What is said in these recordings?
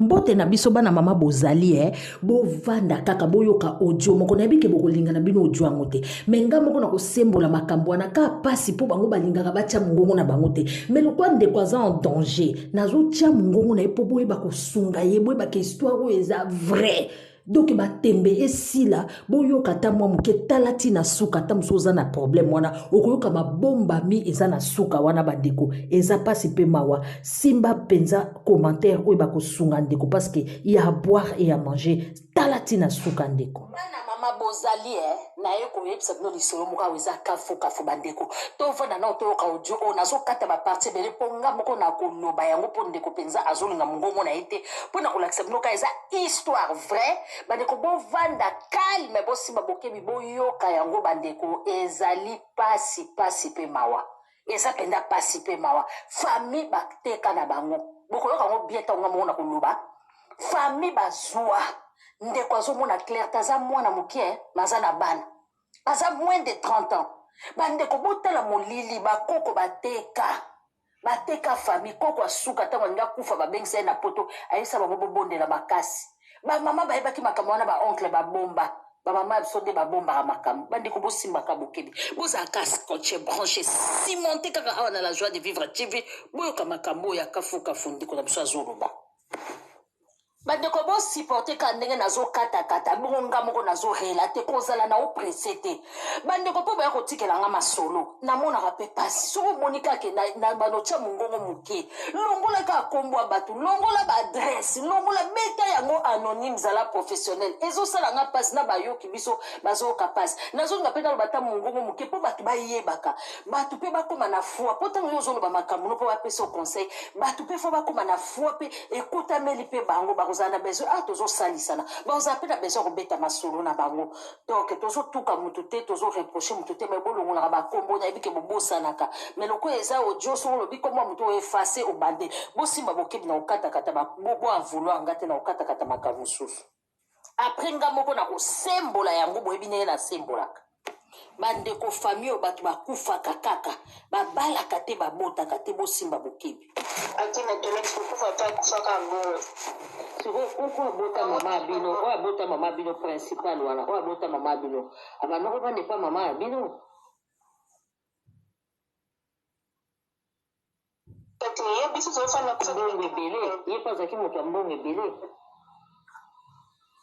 mbote na biso bana mama bozali e eh? bovanda kaka boyoka audio moko nayebi ke bokolinga na bino audio yango te me ngai moko nakosembola makambo wana kaka mpasi mpo bango balingaka batya mongongo na bango te me lokwa ndeko aza en danger nazotya mongongo na ye mpo boyeba kosunga ye boyeba ke histoire oyo eza vrai donk batembe esila boyoka ata mwa moke tala ti na suka ata mosusu oza na problème wana okoyoka babombami eza na suka wana bandeko eza mpasi mpe mawa simba mpenza commentaire oyo bakosunga ndeko parce que ya à boire et à manger tala ti na suka ndeko bana mama bozali e naye koyebisa bino lisolo moko awa eza kafukafu bandeko tovanda nao toyoka audio oyo nazokata baparti ebele mpo nga moko nakoloba yango mpo ndeko mpenza azolinga mongongo na ye te mpo na kolakisa bino ka eza Histoire vraie bandeko bovanda calme bosimba bokebi boyoka yango bandeko ezali pasi pasi pe mawa eza penda pasi pe mawa famille bateka na bango bokoyoka yango bien tango nga moko na koloba famille bazua ndeko azomona claire te aza mwana moke maza na bana aza moins de 30 ans bandeko botala molili bakoko bateka Bateka famille, koko ya suka tango alingi akufa babengisa ye na poto ayebisa bango bobondela makasi. Ba maman bayebaki makambo wana ba oncle babomba. Ba maman ya biso nde babombaka makambo. Bandeko bosimbaka bokebi. Bozalaka scotche, branche, cimente kaka awa na la joie de vivre TV boyoka makambo oyo ya kafou kafou ndeko na biso azoloba. Ba ndeko bo supporter kaka ndenge nazo kata kata bongo nga moko nazo relate kozala na o presse te ba ndeko po boya kotikela nga masolo namonaka pe pasi soki omoni kaka ke na, na bano tia mongongo moke longola kaka kombo ya bato longola ba adresse longola beta yango anonyme zala professionnel ezosala nga pasi na bayoki biso bazoyoka pasi nazolinga pe naloba ata mongongo moke po bato bayebaka bato pe bakoma na foi po ntango yo ozoloba makambo no po bapesa o conseil bato pe fo bakoma na foi pe ekotameli mpe bango bakozala na besoin ah tozosalisana bakozala mpe na besoin ya kobeta masolo na bango donc tozotuka motu te tozoreproche motu te mai bolongolaka bakombo nayebi ke bobosanaka mai lokola eza odio soko olobi kombo ya motu oefase obande bosimba bokebi na kokatakata boavouloir nga te na kokatakata makambo mosusu Apres nga moko na kosembola yango boyebi ndenge na sembolaka bandeko famille oyo bato bakufaka kaka babalaka te babotaka te bosimba bokebi akima toleti kokufa te akufaka mbongo sikoyo kuku abota mama ya bino oyo abota mama ya bino principal wana oyo abota mama ya bino abandoko bande epa mama ya bino Kati ye biso tozofanda biso mbongo ebele ye mpe azalaki moto ya mbongo ebele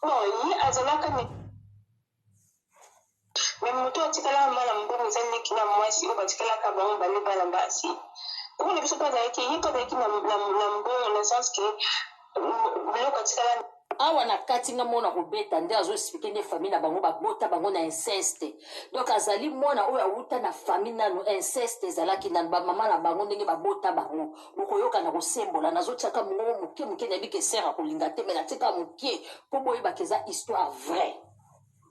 bon ye azalaka me moto atikalaka mwana mbongo eza ndeki na mwasi oyo batikalaka bango bale bana basi kuna biso mpe azalaki ye mpe azalaki na mbongo na sens ke awa na kati nga mona kobeta nde azo explike nde famille na bango babota bango na inceste donc azali mwana oyo awuta na famille nanu inceste ezalaki nanu bamama na bango ndenge babota bango bokoyoka na kosembola nazotiaka mongo moke moke nayebi ke sere akolinga te me natika moke mpo boyebaka eza histoire vraie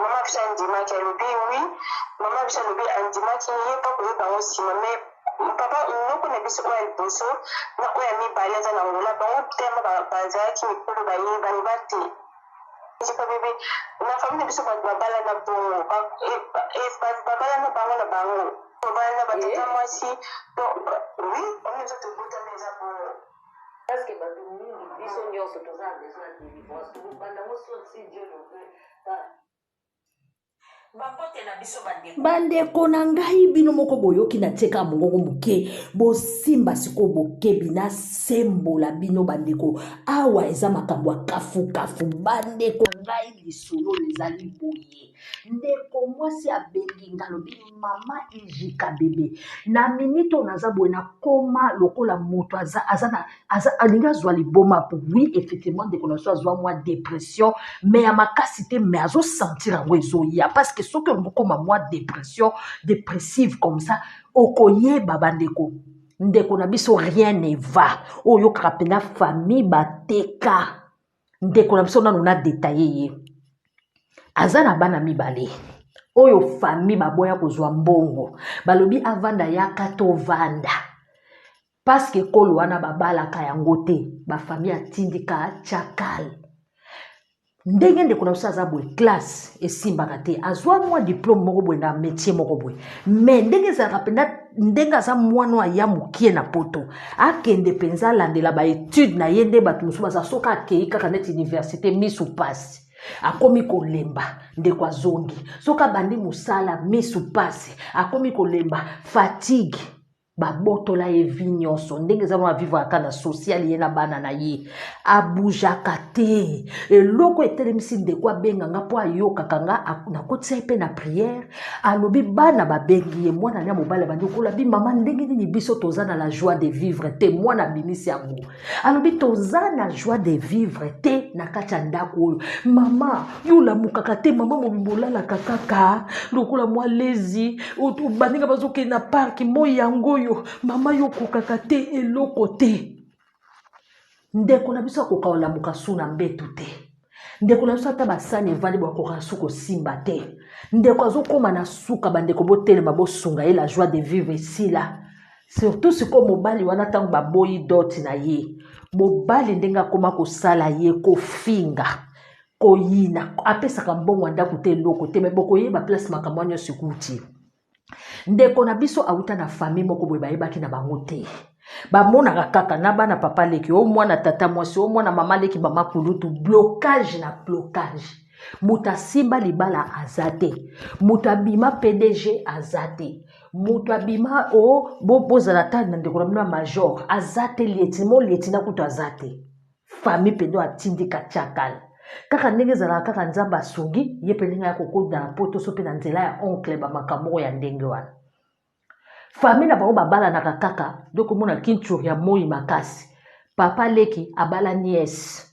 mama biso andimaki alobi wi mama biso alobi andimaki ye mpo koyeba yango nsima mai papa noko na biso oyo ya liboso na oyo ya mibale aza na ngola bango tema bazalaki mikolo bayebani bate esika bebe na fami na biso bato babala na bongo eh, eh, babala na bango na bango babala na batata eh? mwasi oui oyo nzoto ebotami eza bongo Parce que batu mingi biso nionso toza na besoin ya delivrance tokobanda ngo sur si Dieu le veut par bakotela biso bandeko bandeko na ngai bino moko boyoki na tie kaka mongongo moke bosimba sikoyo bokebi nasembola bino bandeko awa eza makambo ya kafukafu bandeko na ngai lisolo ezali boye ye ndeko mwasi abengi nga alobi mama ijika bebe na minite oyo naza boye nakoma lokola moto aza, aza na, aza, alingi azwa liboma po oui effectivement ndeko na biso azwa mwa depression me ya makasi te me azosentir yango ezoya parce que soki olingi okoma mwa depression depressive comme ça okoyeba bandeko ndeko na biso rien ne va oyokaka mpena famille bateka ndeko na biso nanu na detaye ye aza na bana mibale oyo fami baboya kozwa mbongo balobi avanda yaka tovanda paske ekolo wana babalaka yango te bafami atindika chakal ndenge ndeko na biso aza boye classe esimbaka te azwa mwa diplome moko boye na métier moko boye mais ndenge ezalaka mpenza ndenge aza mwana oyo aya mokie na poto akende mpenza alandela baetude na ye nde bato mosusu baza soki akei kaka neti université misu mpasi akomi kolemba ndeko azongi soki abandi mosala misu mpasi akomi kolemba fatigue babotola ye vi nyonso ndenge eza mwa vivre ata na social ye na bana na ye abujaka te eloko etelemisi ndeko abenga nga mpo ayokaka nga nakotisa ye mpe na priere alobi bana babengi ye mwana na mobali abandi kolabi mama ndenge nini biso toza na la joie de vivre te mwana abimisi yango alobi toza na joie de vivre te na kati ya ndako oyo mama yo olamukaka te mama mobimbo olalaka kaka lokola mwa lezi baninga bazokende na parki moi yango oyo mama yo okokaka te eloko te ndeko na biso akoka kolamuka su na mbetu te ndeko na biso ata basani evandi bakoka su kosimba te ndeko azokóma na suka bandeko botelema bosunga ye la joie de vivre esila surtout sikoyo mobali wana ntango baboyi doti na ye mobali ndenge akóma kosala ye kofinga koyina apesaka mbongo ya ndako te eloko te me bokoyeba place makambo ya nyonso ekuti ndeko na biso awuta na famille moko boye bayebaki na bango te bamonaka kaka na bana papa leki o mwana tata mwasi o mwana mama leki mama kulutu blocage na blocage moto asimba libala aza te moto abima pdg aza te moto abima o oh, bozala bo tani na ndeko na bino ya major aza te lietimo lietina kutu aza te famille mpe ndo atindika chakal kaka ndenge ezalaka kaka nzambe asungi ye mpe ndenge akokoda na poto so mpe na nzela ya oncle bamakambo moko ya ndenge wana famille na bango babalanaka kaka nde komona kinture ya moi makasi papa leki abala niese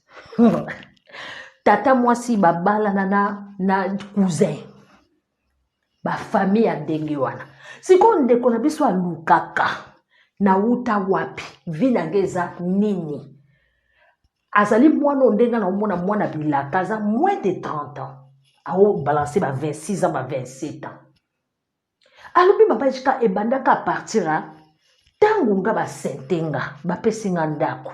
tata mwasi babalana na, na cousin bafamille ya ndenge wana sikoyo ndeko na biso alukaka nauta wapi vi na nge eza nini azali mwana oyo ndenge naomona mwana bilaka aza moins de 30 ans aobalanse ba 26 ans ba 27 ans alobi mama jika ebandaka apartir ya ntango nga basente nga bapesi nga ndako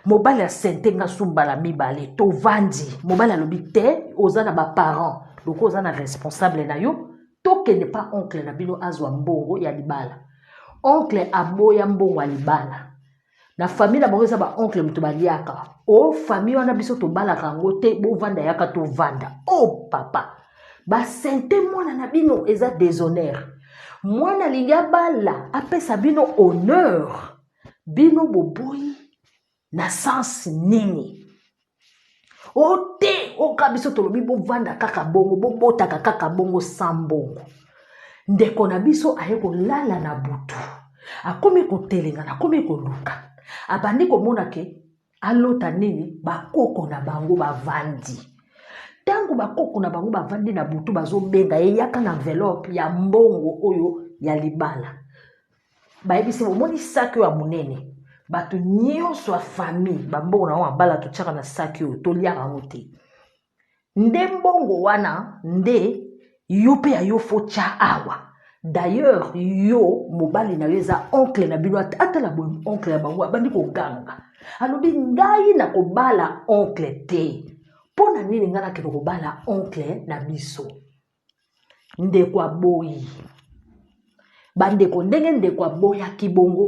mobali asente nga su mbala mibale tovandi mobali alobi te oza na baparent lokola oza na responsable na yo tokende pa oncle na bino azwa mbongo ya libala oncle aboya mbongo ya libala na famille na bango eza ba oncle moto baliaka o oh, famille wana biso tobalaka yango te bovanda yaka tovanda o oh, papa basente mwana na bino eza deshonneur mwana alingi abala apesa bino honneur bino boboyi na sense nini o te oka biso tolobi bovanda kaka bongo bobotaka kaka bongo sa mbongo ndeko na biso aye kolala na butu akomi kotelengana akomi koluka abandi komona ke alota nini bakoko na bango bavandi ntango bakoko na bango bavandi na butu bazobenga ye yaka na envelope ya mbongo oyo ya libala bayebisi omoni saki oyo ya monene bato nyonso ya famille bambongo na yango mabala totyaka na saki oyo tolyaka yango te nde mbongo wana nde yo mpe ya yo fotya awa d'ailleurs yo mobali na yo eza oncle na bino atala boye oncle ya bango abandi koganga alobi ngai nakobala oncle te mpo na nini ngai nakende kobala oncle na biso ndeko aboyi bandeko ndenge ndeko aboyaki bongo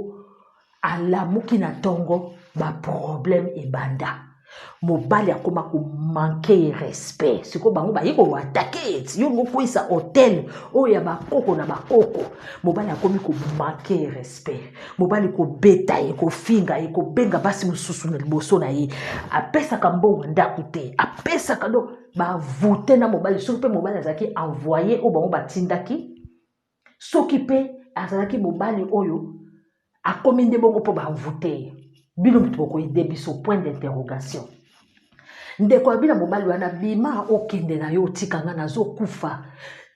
alamuki na ntongo baproblème ebanda mobali akoma komanke ye respect sikoyo bango baye koatake eti yo mokwisa hotel oyo ya bakoko na bakoko mobali akomi komanke ye respect mobali kobeta ye kofinga ye kobenga basi mosusu na liboso na ye apesaka mbongo ndako te apesaka do bavoute na mobali soki mpe mobali azalaki envoye oyo bango batindaki soki mpe azalaki mobali oyo akomi nde bongo mpo bavoute ye bino moto bokoyede biso point d'interrogation ndeko ya bina mobali wana bima okende na yo otika ngai nazokufa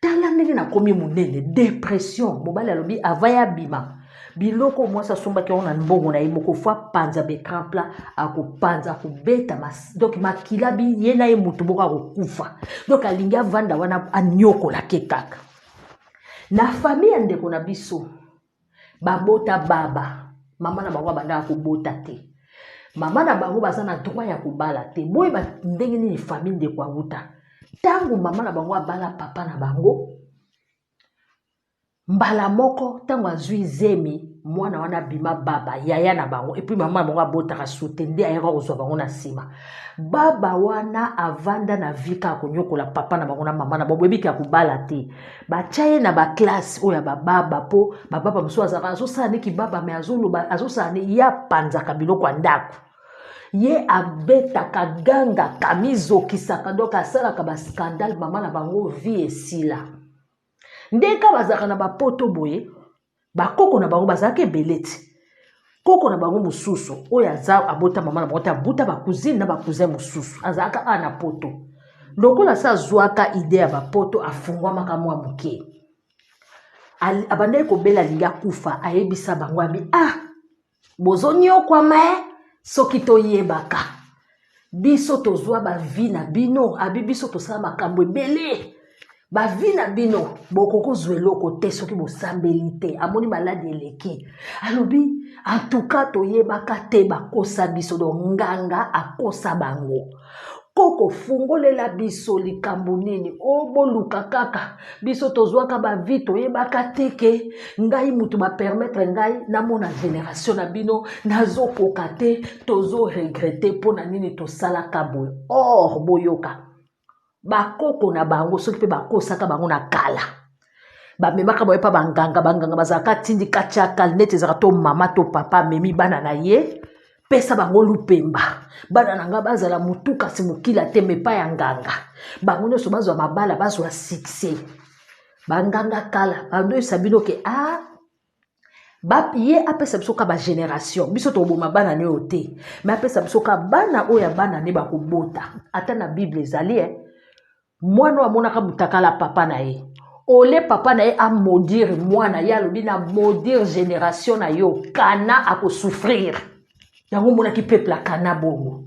tala ndenge nakomi monene depression mobali alobi ava ya bima biloko mwasi asombaki yango na mbongo na ye moko fo apanza becran plat akopanza akobeta donk makila bi ye na ye motu moko akokufa donk alingi avanda wana aniokola ke kaka na famille ya ndeko na biso babota baba mama na bango abandaka kobota te mama na bango baza na droit ya kobala te boyeba ndenge nini famille ndeko awuta ntango mama na bango abala papa na bango mbala moko ntango azwi zemi mwana wana abima baba yaya na bango epuis mama na bango abotaka sute nde ayaka kozwa bango na nsima baba wana avanda na vie kaka konyokola papa na bango na mama na bango boyebi ke akobala te batya ye na baklasse oyo ya bababa mpo bababa mosusu azalaka azosala nde kibaba me azoloba azosala nde ye apanzaka biloko ya ndako ye abetaka gangaka mizokisaka donk asalaka baskandale mama na bango vie esila ndenge kaka bazalaka na bapoto boye bakoko na bango bazalaka ebele ti koko na bango mosusu oyo aza abota mama na bango te abuta bacousine na bacousin mosusu azalaka awa na poto lokola se azwaka ide ya bapoto afungwamaka mwa moke abandaki kobela alingi akufa ayebisa bango abi ah bozo nyokwa me soki toyebaka biso tozwa bavi na bino abi biso tosala makambo ebele bavi na bino bokoki kozwa eloko te soki bosambeli te amoni maladi eleki alobi antuka toyebaka te bakosa biso do nganga akosa bango Koko fungolela biso likambo nini o oh, boluka kaka biso tozwaka ba vie toyebaka te ke ngai mutu ba permettre ngai namona generation na bino nazokoka te tozo regrete mpo na nini tosalaka boye or boyoka bakoko na bango soki mpe bakosaka bango na kala bamemaka baye mpa banganga banganga bazalaka tindi katya kalnete ezalaka to mama to papa amemi bana na ye pesa bango lupemba bana na ngai bazala motu kasi mokila te mepa ya nganga bango nyonso bazwa mabala bazwa sukse banganga kala bandoyisa bino ke a ah, ba ye apesa biso ka bagénération biso toboma bana ne oyo te me apesa biso ka bana oyo ya bana ne bakobota ata na bible ezali e mwana oyo amonaka motakala papa na ye ole papa na ye amodire mwana ye alobi na modire génération na yo kana akosouffrire yango omonaki peuple ya kana bongo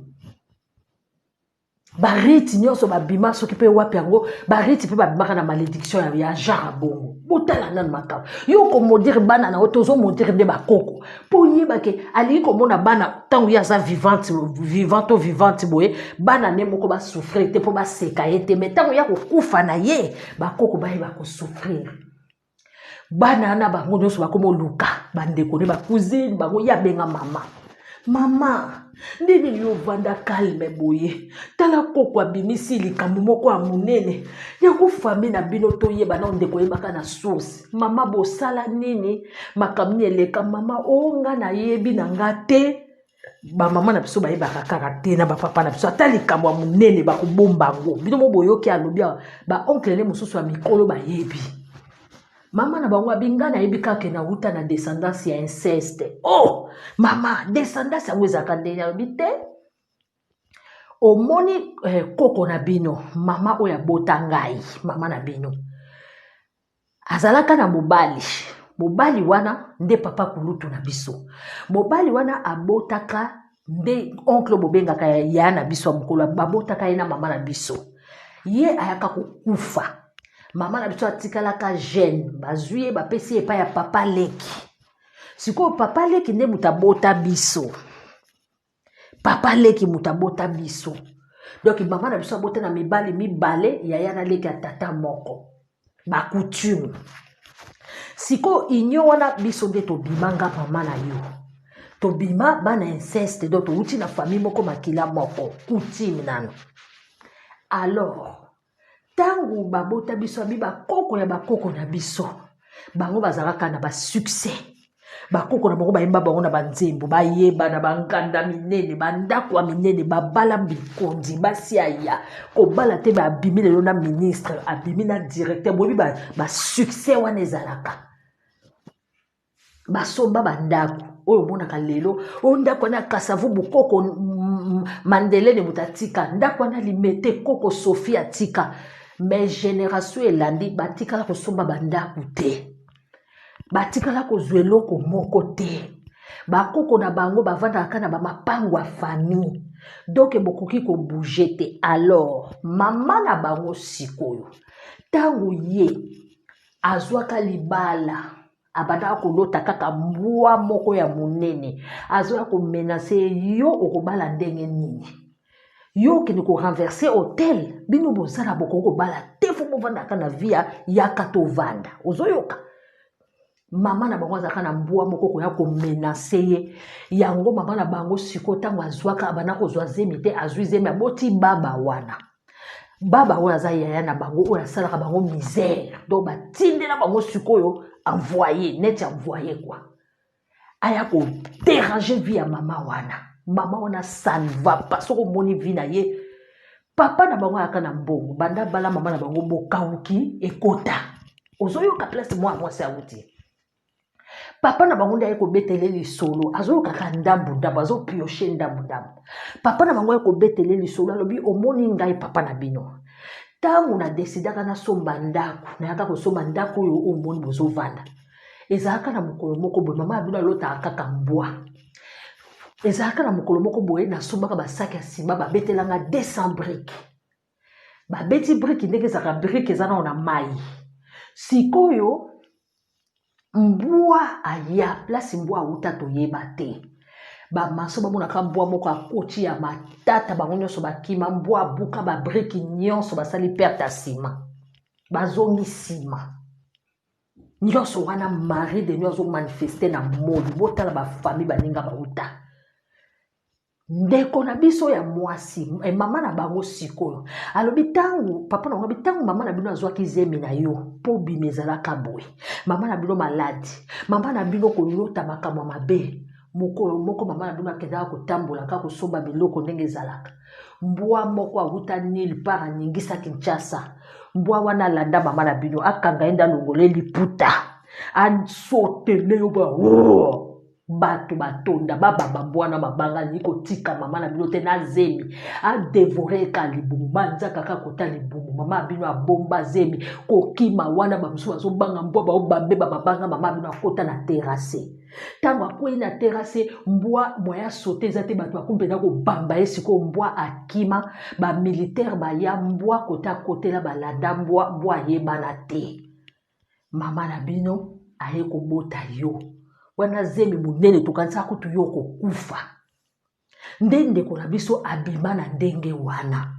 barite nyonso babima soki mpe wapi yango barite mpe babimaka na malédiction ya, ya genre bongo botala nanu makambo yo okomodire bana na yo te ozomodire nde bakoko mpo oyeba ke alingi komona bana ntango ye aza vivante vivant to vivante boye bana ne moko basouffrir te mpo baseka ye te mai ntango ya kokufa na ye bakoko baye bakosouffrir bana na bango nyonso bakomoluka bandeko ne bacousine bango ye abenga mama mama ndenge yo ovanda kalme boye tala koko abimisi likambo moko ya monene yango fami na bino toyeba nao ndeko oyebaka na source mama bosala nini makambo nini eleka mama o oh, nga nayebi na nga te bamama na biso bayebaka kaka te na bapapa na biso ata likambo ya monene bakobomba yango bino mo boyoki alobi awa baoncle ne mosusu ya mikolo bayebi mama na bango abinga nayebi kaka na uta na descendance ya inceste o oh! mama descendance yango ezalaka ndenge alobi te omoni eh, koko na bino mama oyo abota ngai mama na bino azalaka na mobali mobali wana nde papa kulutu na biso mobali wana abotaka nde oncle bobengaka ya na biso ya mokolo babotaka ye na mama na biso ye ayaka kokufa mama na biso atikalaka jeune bazwi ye bapesi ye epai ya papa leki sikoyo papa leki nde moto abota biso papa leki moto abota biso donc mama na biso abota na mibali mibale yaya na leki ya tata moko bacoutume sikoyo union wana biso nde tobima nga mama na yo tobima bana inceste donc towuti na famille moko makila moko coutume nano alors ntango babota biso abi bakoko ya bakoko na biso bango bazalaka na basuccès bakoko na bango bayemba bango na banzembo bayeba na banganda minene bandako ya minene babala bikonzi basi aya kobala te babimi lelo na ministre abimi na directeur boyebi basuccès wana ezalaka basomba bandako oyo omonaka lelo oyo ndako wana ya kasavu bokoko mandelene moto atika ndako wana limete koko sofi atika me generation elandi batikala kosomba bandako te batikala kozwa eloko moko te bakoko na bango bavandaka kaka na bamapango ya famille donke bokoki kobouge te alors mama na bango sikoyo ntango ye azwaka libala abandaka kolota kaka mbwa moko ya monene azoya komenase yo okobala ndenge nini yo okende korenverse hotel bino boza na bokoki kobala te fo bovandaka na via yaka tovanda ozoyoka mama na bango azalaka na mbwa moko koya komenase ye yango mama na bango sikoyo ntango azwaka abanda kozwa zemi te azwi zemi aboti baba wana baba oyo aza yaya na bango oyo asalaka bango misère donc batindela bango sikoyo envoye neti envoye kua aya koderange vie ya mama wana mama wana ça ne va pas soki omoni vie na ye papa na bango ayaka na mbongo banda bala mama na bango bokauki ekota ozoyoka place mwana mwasi awuti papa na bango nde aye kobetele lisolo azoyokaka ndambu ndambu azopioche ndambu ndambu papa na bango aye kobetele lisolo alobi omoni ngai papa na bino ntango nadesidaka nasomba ndako nayaka kosomba ndako oyo omoni bozovanda ezalaka na mokolo moko boye mama ya bino alotaka kaka mbwa ezalaka na mokolo moko boye nasombaka basaki ya nsima babetelanga 200 brike babeti briki ndenge ezalaka briki eza nao na mai sikoyo mbwa aya place mbwa auta toyeba te bamaso bamonaka mbwa moko akoti ya matata bango nyonso bakima mbwa abuka babriki nyonso basali perte ya nsima bazongi nsima nyonso wana marie de nio azomanifeste na moli botala bafamille baninga bauta ndeko na biso ya mwasi eh, mama na bango sikoyo alobi ntango papa na alobi ntango mama na bino azwaki zemi na yo mpo bima ezalaka boye mama na bino maladi mama na bino kolota makambo mabe mokolo moko mama na bino akendaka kotambolaka kosomba biloko ndenge ezalaka mbwa moko awuta nil par aningisa kinshasa mbwa wana alanda mama na bino akanga ye nde alongola ye liputa asotele yo ba oh! batu batonda babamba mbwana mabanga alingi kotika mama na bino te na zemi adevore eka libumu manzaka kaka kota libumu mama ya bino abomba zemi kokima wana bamosusu bazobanga mbwa baobambe bamabanga mama ya bino akota na terase ntango akwei na terase mbwa mwaya sote eza te bato bakomi mpenza kobamba ye sikoyo mbwa akima bamilitaire baya mbwa kota akotela balanda mbwa mbwa ayebana te mama na bino aye kobota yo wana zemi monene tokanisaka kutu yo okokufa nde ndeko na biso abima na ndenge wana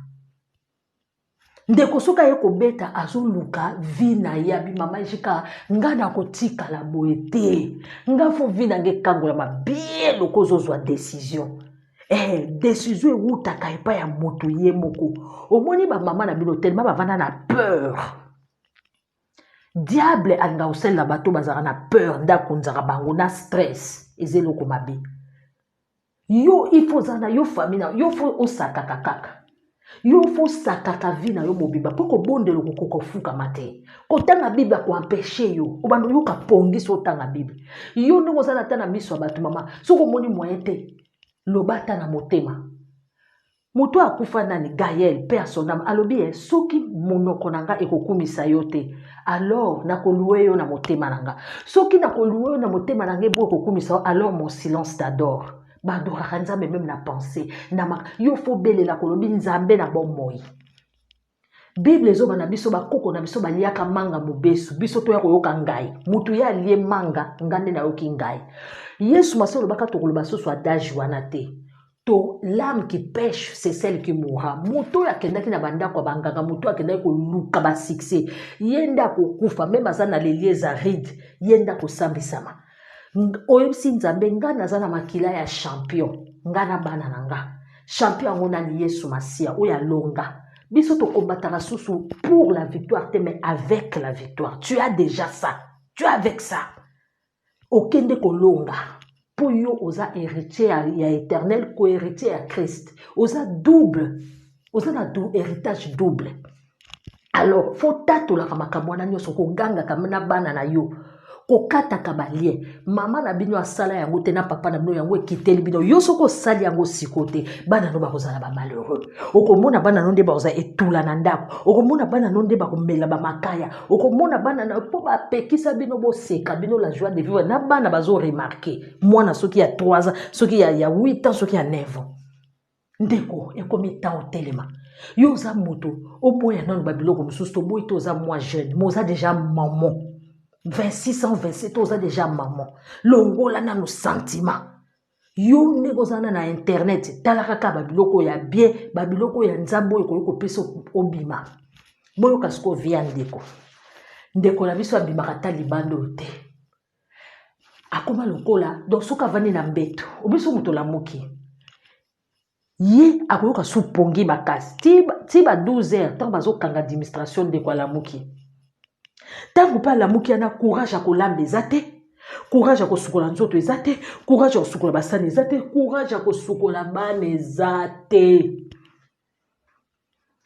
ndeko soki aye kobeta azoluka vi na ye abi mama jika nga nakotikala boye te nga fo vi na nga ekangolama bie loko ozozwa desizio eh, desizio ewutaka epai ya moto ye moko omoni bamama na bino telema bavanda na peur diable alinga kosalela bato bazalaka na peur nde akonzaka bango na stress eza eloko mabe yo ifo oza na yo fami na yo fo osakaka kaka yo fo osakaka vi na yo mobimba mpo kobondela okokoka ofukama te kotanga bible akoempeshe yo obanda oyoka pongi so otanga bible yo ndenge oza na ata na miso ya bato mama soki omoni moyen te loba ata na motema Moto oyo akufa nani? Gael, paix à son âme, alobi eh, soki monoko na nga ekokumisa yo te, alors nakolue yo na motema na nga. Soki nakolue yo na motema na nga ebo ekokumisa yo, alors mon silence t'adore. Ba adoraka Nzambe meme na pensée, na mak yo fo belela kolobi Nzambe na bomoi. Bible ezoba na biso bakoko na biso baliaka manga mobesu biso toya koyoka ngai mutu ye alie manga nga nde nayoki ngai yesu masi olobaka tokoloba susu adage wana te to lame qui pêche c'est celle qui mourra moto oyo akendaki na bandako ya banganga moto oyo akendaki koluka basuccès ye nde akokufa meme aza na lelie eza ride ye nde akosambisama oyebisi nzambe ngai naza na makila ya champion ngai na bana na nga champion yango nani yesu masiya oyo alonga biso tokombataka susu pour la victoire te mais avec la victoire tu as déjà ça tu as avec ça okende kolonga mpo yo oza héritier ya, ya éternel kohéritier ya christ oza double oza na du héritage double alors fo tatolaka makambo wana nyonso kogangaka na bana na yo kokataka balie mama na bino asala yango te na papa na bino yango ekiteli bino yo soki osali yango siko te bana no bakozala bamalheureux okomona bana no nde bakozala etula na ndako okomona bana no nde bakomela bamakaya okomona bana na mpo bapekisa bino boseka bino la joie de vivre na bana bazoremarke mwana soki ya 3 ans soki ya, ya 8 ans soki ya 9 ans ndeko ekomi ntan otelema yo oza moto oboya nano babiloko mosusu toboyi to oza mwa jeune mo oza deja mamo 26 ans 27 to oza deja mamo longola nano sentiment yo ndenge oza na na internet tala kaka babiloko ya bien babiloko ya nzambe oyo ekoki kopesa obima boyoka sikoyo via ndeko ndeko na biso abimaka ata libanda oyo te akoma lokola donc soki avandi na mbeto obi so moto olamuki ye akoyoka su pongi makasi ti ba 12 heures ntango bazokanga administration ndeko alamuki ntango mpe alamuki yana courage ya kolamba eza te courage ya kosukola nzoto eza te courage ya kosukola basani eza te courage ya kosukola bana eza te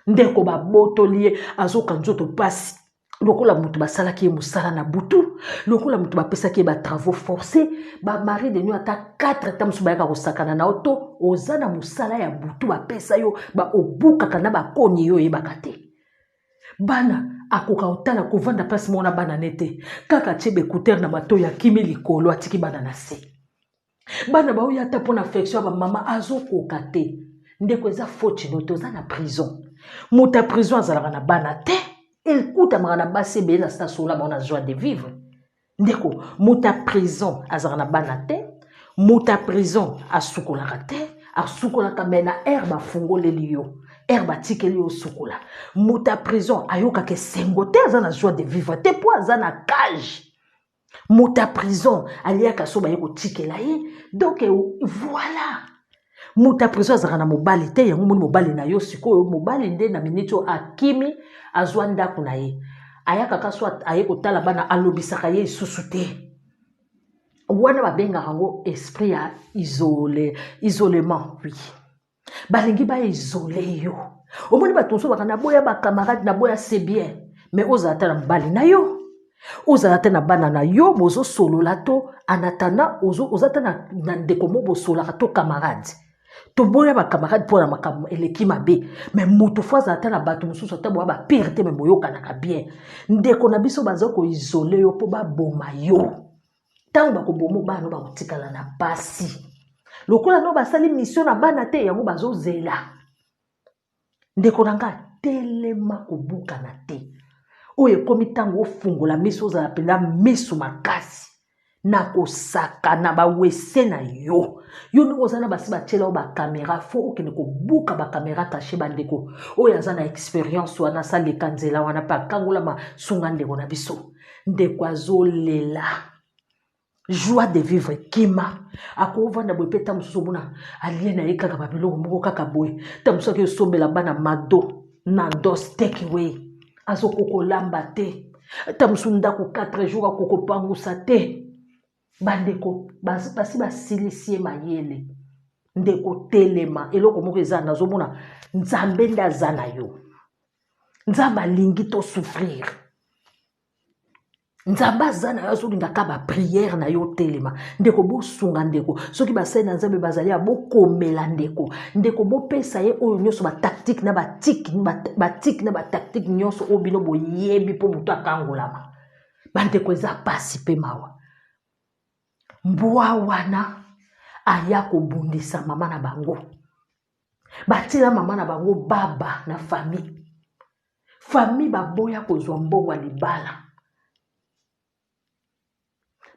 ndeko babotoli ye azoka nzoto mpasi lokola moto basalaki ye mosala na butu lokola moto bapesaki ye batravaux forcé bamari de nuit ata 4 ata mosusu bayaka kosakana na yo to oza na mosala ya butu bapesa yo baobukaka na bakoni yo oyebaka te bana akoka kotala kovanda place moko na bana ne te kaka tie baekutere na matoi akimi likolo atiki bana na se bana baoya ata mpo na affection ya bamama azokoka te ndeko eza foti no te oza na prison moto ya prison azalaka na bana te ekutamaka na basi ebele na sita sola bango na joie de vivre ndeko moto ya prison azalaka na bana te moto ya prison asukolaka te asukolaka me na aire bafungoleli yo aire batikeli yo osukola moto ya prison ayokaka esengo te aza na joie de vivre te mpo aza na cage moto ya prison aliaka so baye kotikela ye donc voilà moto ya prison azalaka na mobali te yango moni mobali na yo sikoyo mobali nde na miniti oyo akimi azwa ndako na ye ayaka ka so aye kotala bana alobisaka ye lisusu te wana babengaka yango esprit ya isole isolement oui balingi ba isole yo omoni bato mosusu baka naboya bacamarade naboya se bien me ozala ata na mobali na yo ozala ata na bana na yo bozosolola to anatana oza ata na ndeko mo bosolaka to camarade toboya bacamarade mpo na makambo eleki mabe me moto fo azala ata na bato mosusu ata boya bapire te me boyokanaka bien ndeko na biso baza koisole yo mpo baboma yo ntango bakoboma bana bakotikala na mpasi lokola no basali misio na bana te yango bazozela ndeko na ngai telema kobukana te oyo ekomi ntango ofungola miso ozala mpenza miso makasi na kosakana bawese na yo yo ndenge oza na basi batyela yo bakamera fo okende kobuka bakamera kashe bandeko oyo aza na experience wana asaleka nzela wana mpe akangolama sunga ndeko na biso ndeko azolela joie de vivre kima akovanda boye mpe ntango mosusu omona alie na ye kaka babiloko moko kaka boye ntango mosusu ake osombela bana mado na dos tekeway azokokolamba te ntango mosusu ndako 4 jour akokopangusa te bandeko basi basilisi ye mayele ndeko telema eloko moko eza nazomona nzambe nde aza na yo nzambe alingi tosouffrir nzambe aza na yo azolingaka bapriere na yo otelema ndeko bosunga ndeko soki basali na nzambe bazali ya bokomela ndeko ndeko bopesa ye oyo nyonso batactique na batike batike na batactique nyonso oyo bino boyebi mpo moto akangolama bandeko eza pasi mpe mawa mbwa wana aya kobundisa mama na bango batila mama na bango baba na famille famille baboya kozwa mbongo ya libala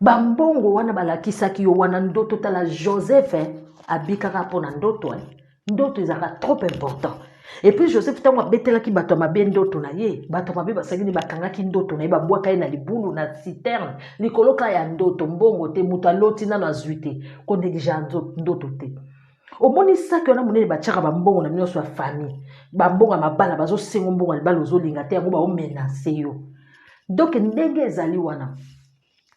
bambongo wana balakisaki yo wana ndoto tala joseph eh, abikaka mpo na ndoto eh. ndoto ezalaka trop important et puis joseph ntango abetelaki bato ya mabe ndoto na ye bato ya mabe basaki nde bakangaki ndoto na ye babwaka ye na libulu na citerne likolo kaka ya ndoto mbongo te moto aloti nano azwi te konegligea ndoto te omoni saki wana monene batyaka bambongo na bino nyonso ya famille bambongo ya mabala bazosengo mbongo ya libala ozolinga te yango baomenase yo donk ndenge ezali wana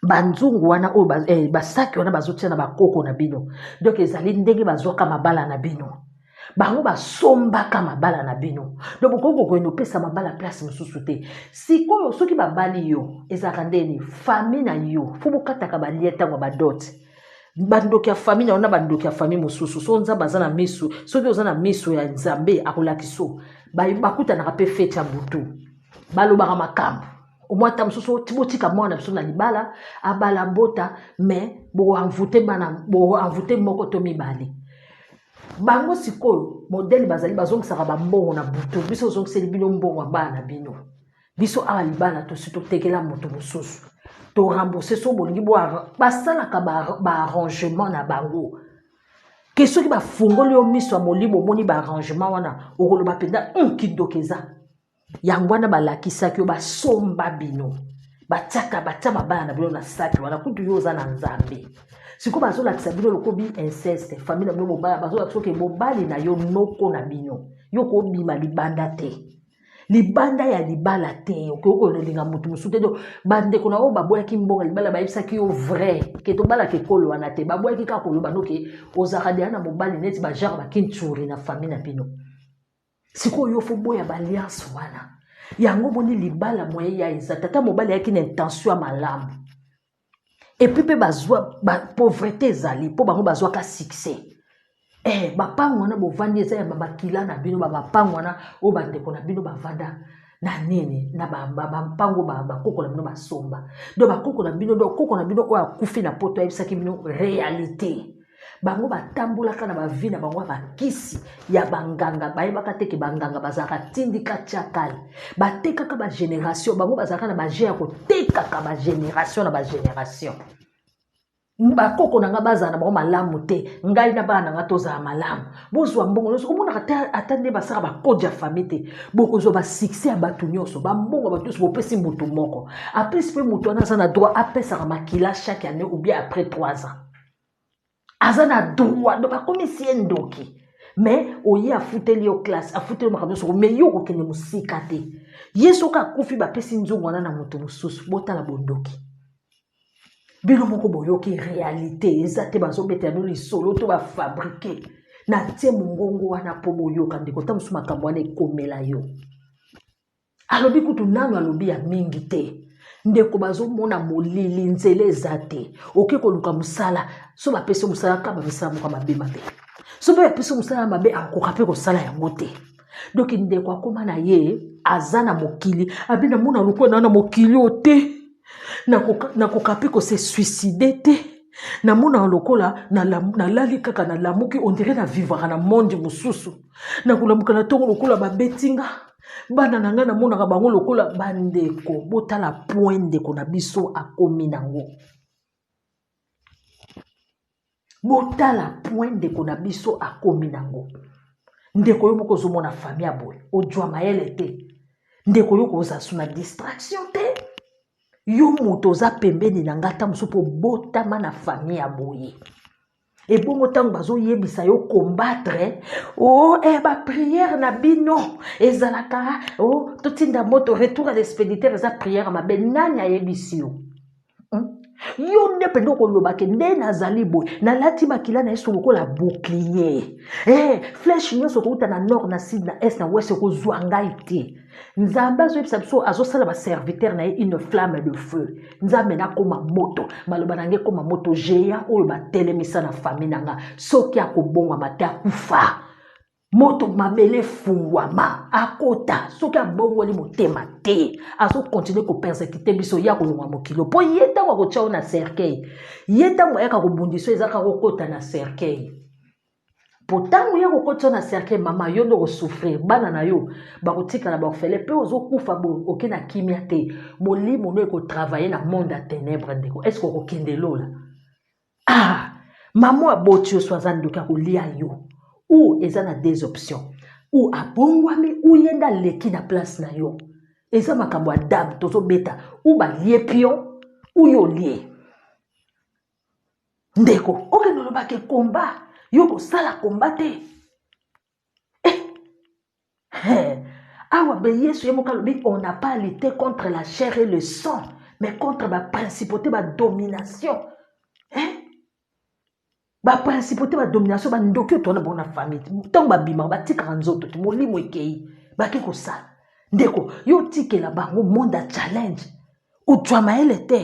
banzungu wana oyo ba, eh, basaki wana bazotia na bakoko na bino donk ezali ndenge bazwaka mabala na bino bango basombaka mabala na bino do bokoki kokende opesa mabala place mosusu te sikoyo soki babali yo ezalaka ndeni fami na yo fo bokataka balie ntango ya badote bandoki ya fami na yo na bandoki ya fami mosusu so nzambe aza na miso soki oza na miso ya nzambe akolakisa bakutanaka mpe feti ya butu balobaka makambo omwa ata mosusu botika mwana na biso na libala abala bota mais boanvute bana boanvute moko to mibale bango sikoyo modele bazali bazongisaka bambongo na butu biso ozongiseli bino mbongo ya bana na bino biso awa libala tosi totekela moto mosusu torembourse so bolingi basalaka baarrangement na bango ke soki bafungoli yo miso ya molimo omoni baarrangement wana okoloba mpenza hmm, kindoki eza yango wana balakisaki yo basomba bino batiaka batia mabala na bino na saki wana kutu yo oza na nzambe sikoyo bazolakisa bino lokobi inceste famille na bino bobala bazolakisa oke mobali na yo noko na bino yo kobima libanda te libanda ya libala te okoki kolinga moto mosusu te do bandeko na oyo baboyaki mbongo ya libala bayebisaki yo vrai ke tobalaka ekolo wana te baboyaki kaka koloba noke ozalaka deya na mobali neti bagenre bakinturi na famille na bino sikoyo yo foboya baliance wana yango omoni libala moye ya eza tata mobali ayaki na intention ya malamu epuis mpe bazwa ba, pauvrete ezali mpo bango bazwaka succès eh, bapango wana bovandi eza ya babakila na bino babapango wana oyo bandeko na bino bavanda na nini na bampango ba, ba, ba, bakoko na bino basomba do bakoko na bino do koko na bino oyo akufi na poto ayebisaki bino réalité bango batambolaka na bavi na bango ya bakisi ya banganga bayebaka te ke banganga bazalaka tindika tiakale batekaka bageneration bango bazalaka na baje ya kotekaka bageneration na bageneration bakoko na ngai bazala na bango malamu te ngai na bana na ngai tozala malamu bozwa mbongo nyonso omonaka te ata nde basala bakode ya famille te bokozwa basuccès ya bato nyonso bambongo ya bato nyonso bopesi motu moko aplisi mpe moto wana aza na droit apesaka makila chaque année ou bien après 3 ans aza na droit donc akomisi ye ndoki mais oye afuteli yo classe afuteli yo makambo nyonso mais yo okokende mosika te ye soki akufi bapesi nzungu wana na moto mosusu botala bondoki bino moko boyoki réalité eza te bazobetela bino lisolo to bafabrike natie mongongo wana mpo boyoka ndeko ta mosusu makambo wana ekomela yo alobi kutu nanu alobi ya mingi te ndeko bazomona molili nzela eza te oke koluka mosala so bapesi yo mosala kaba misala moko mabe mabe so mpe bapesi yo mosala mabe akokoka mpe kosala yango te donki ndeko akoma na ye aza na mokili abi namona lokola na na mokili oyo te nakoka mpe kose suicide te namonaka lokola nalali kaka nalamuki ondire na vivaka na monde mosusu nakolamuka na ntongo lokola babetinga bana na ngai namonaka bango lokola bandeko botala point ndeko na biso akomi nango botala point ndeko na biso akomi nango ndeko yo moko ozomona fami ya boye ojwa mayele te ndeko yo kozasu na distraction te yo moto oza pembeni na ngai ata mosusu mpo obotama na fami ya boye ebongo ntango bazoyebisa yo combattre o oh, eh, bapriere na bino ezalaka o oh, totinda moto retour ya expéditeur eza priere mabe nani ayebisi yo hmm? yo nde mpenza okolobake nde nazali boye nalati makila na yesu lokola bouclier eh, flèche nyonso okouta na nord na sud na est na west ekozwa ngai te nzambe azoyebisa biso azosala baserviteur na ye une flamme de feu nzambe nakoma moto maloba na nge ekoma moto géant oyo batelemisa na famille na nga soki akobongwama te akufa moto mabele efungwama akota soki abongoli motema te azokontinue kopersekite biso ye akolongwa mokilo mpo ye ntango akotya yo na cercueil ye ntango ayaka kobundisa ezalaka kokota na cercueil po ntango ye akokoti yo na cercueil mama yo nde okosouffrir bana na yo bakotikala baorfele mpe ozokufa bo oke na kimia te molimo no ekotravaille na monde ya ténèbre ndeko estce okokende lola ah mama oyo aboti yo so aza ndoki akolia yo ou eza na deux options ou abongwami ou ye nde aleki na place na yo eza makambo ya dame tozobeta ou balie pion ou yo olie ndeko okende oloba ke komba yo kosala komba te eh, eh. awa be yesu ye moko alobi on n'a pas lutté contre la chair et le sang mais contre baprincipauté badomination eh? baprincipauté badomination bandoki oyo tona bango na famille ntango babimaka batikaka nzoto te molimo ekei bake kosala ndeko yo otikela bango monde ya challenge ojwa mayele te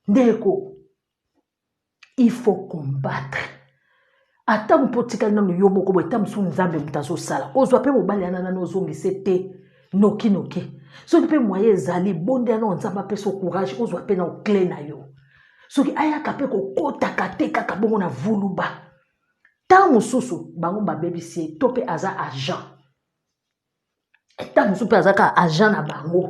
Ndeko, il faut combattre. Ata mpo otikali nano yo moko boye, ta mosusu Nzambe moto azosala. Ozwa mpe mobali yana nano ozongise te noki noki. Soki mpe moye ezali, bondela nao Nzambe apesa courage, ozwa mpe nao cle na yo. Soki ayaka mpe kokotaka te kaka bongo na vuluba. Ntango mosusu bango babebisi ye to mpe aza agent. ntango mosusu mpe aza kaka agent na bango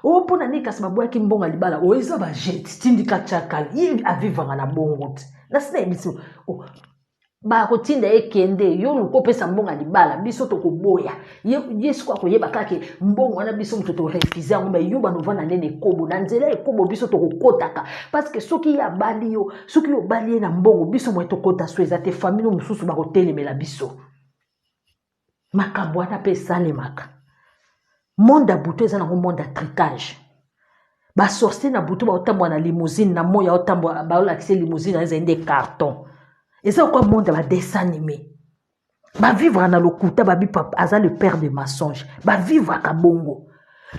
o oh, mpo na nini kasi babwaki mbongo ya libala oyo oh, eza bajete tindika cakal ye avivanga na bongo te nasi nayebisi oh, bakotinda ye kende yo luka opesa mbongo ya libala biso tokoboya ye siko akoyeba kake mbongo wana biso moto torefuze yango mai yo banovanda nde na ekobo na nzela ya ekobo biso tokokotaka parceke soki ye abali yo soki yo obali ye na mbongo biso moye tokota so eza te famili mosusu bakotelemela biso makambo wana mpe esalemaka monde ya butu eza nango monde ya tricage basorcier na butu baotambola na limousine na moi aotambola baolakisa limousine wana ezali nde carton eza okwa monde ya badessin anime bavivre na lokuta babi papa aza le père de mensonge bavivraka bongo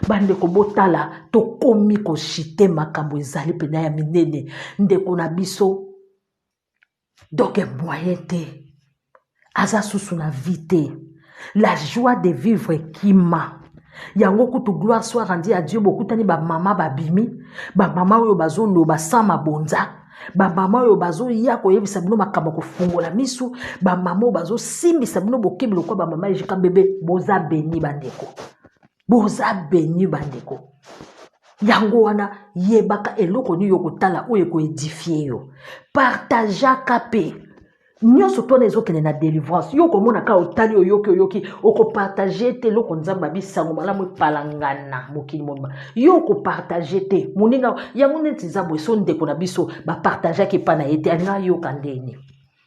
bandeko botala tokomi koshite makambo ezali mpena ya minene ndeko na biso donc moyen te aza susu na vie te la joie de vivre ekima yango kutu gloire soit rendi ya dieu bokutani bamama babimi bamama oyo bazoloba sans mabonza bamama oyo bazoya koyebisa bino makambo ya kofungola misu bamama oyo bazosimbisa bino bokebi lokola bamama ejika bebe boza beni bandeko boza beni bandeko yango wana yebaka eloko nini okotala oyo ekoedifie yo partageaka mpe nyonso twana ezokende na délivrance yo okomona kaka otali oyoki oyoki okopartage te eloko nzambe abi sango malamu epalangana mokili mobima yo okopartage te moninga yango neti eza boye so ndeko na biso bapartageaki epai na ye te alinga ayoka ndeni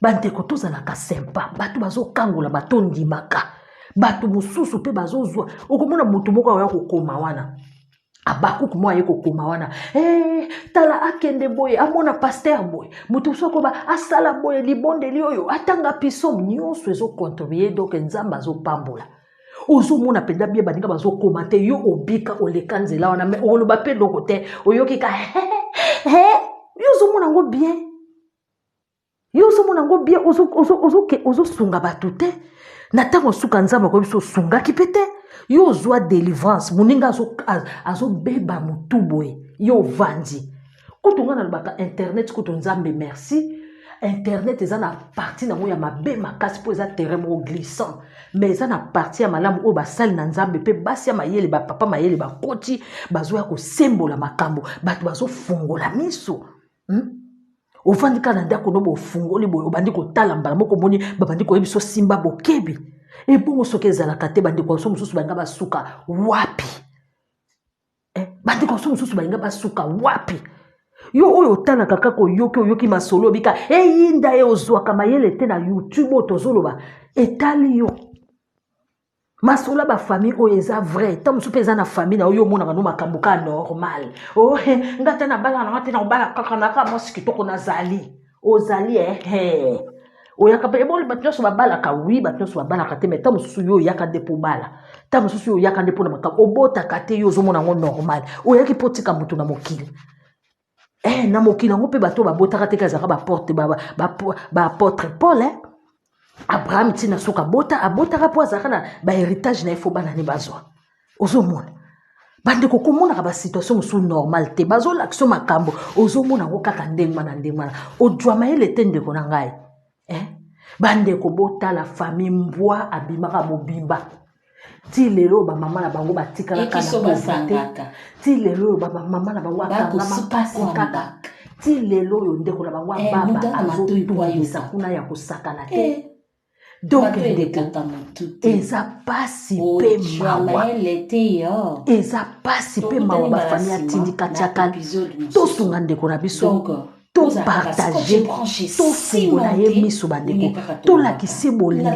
bandeko tozalaka sempa bato bazokangola bato ondimaka bato mosusu mpe bazozwa okomona moto moko aoya kokoma wana abakuk mwa ye kokoma wana hey, eh, tala akende boye amona paster boye moto mosusu akoba asala boye libondeli oyo atanga piso nyonso ezokontribue donk nzambe azopambola ozomona mpenza bie baninga bazokoma te yo obika oleka nzela wana me oloba mpe eloko te oyoki ka yo ozomona yango bien yo ozomona yango bien ozosunga bato te na ntango suka nzambe akoyebi so osungaki mpe te yo ozwa délivrance moninga azobeba motu boye yo ovandi kutu ngai nalobaka internet kutu nzambe merci internet eza na parti nango ya mabe makasi mpo eza terrain moko glissant mais eza na parti ya malamu oyo basali na nzambe mpe basi ya mayele bapapa mayele bakoti bazoya kosembola makambo bato bazofungola miso hmm? ofandi kaka na ndako no bofungoli boye obandi kotala mbala moko omoni babandi koyebi so simba bokebi ebongo soki ezalaka te bandeko biso mosusu balinga basuka wapi eh, bandeko biso mosusu balinga basuka wapi yo oyo otalaka kaka oyoki oyoki masolo obika eyinda ye ozwaka mayele te na youtube oyo tozoloba etali yo masolo ya bafamille oyo eza vrai ntango mosusu mpe eza na famille na yo yo omonaka no makambo kaka normal ohe oh, nga te nabalaka nanga te nakobala kaka naka mwasi kitoko nazali ozali ehe eh. oyaka mpe eboli bato nyonso babalaka wi bato nyonso babalaka te mai ntango mosusu yo oyaka nde mpo obala ntango mosusu yo oyaka nde mpo na makambo obotaka te yo ozomona yango normal oyaki mpo otika moto na mokili eh, na mokili yango mpe bato oyo babotaka teke azalaka baporte baapotre paul eh? abraham ntina soki abota abotaka mpo azalaka na baheritage na ye fo bana ne bazwa ozomona bandeko komonaka basituation mosusu normal te bazolakisa makambo ozomona yango kaka ndenge wana ndenge wana ojwa mayele te ndeko na ngai eh? bandeko botala famille mbwa abimaka mobimba ti lelo bamama na bango batikalaka na posa te ti lelo oyo bamama na bango akangamakakaka ti lelo oyo ndeko na bango eh, ababa azotungisa kuna ya kosakana te eh. donc ndeko eza pasi mpe mawa eza pasi mpe mawa bafamille atindika tiaka tosunga ndeko na biso topartage tofungola ye miso bandeko tolakisi bolingo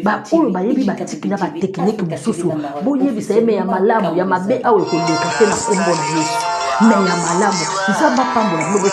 baoyo bayebi batiki na batekiniki mosusu boyebisa ye me ya malamu ya mabe awa ekoleka te na nkombo na yesu me ya malamu nzambe apambola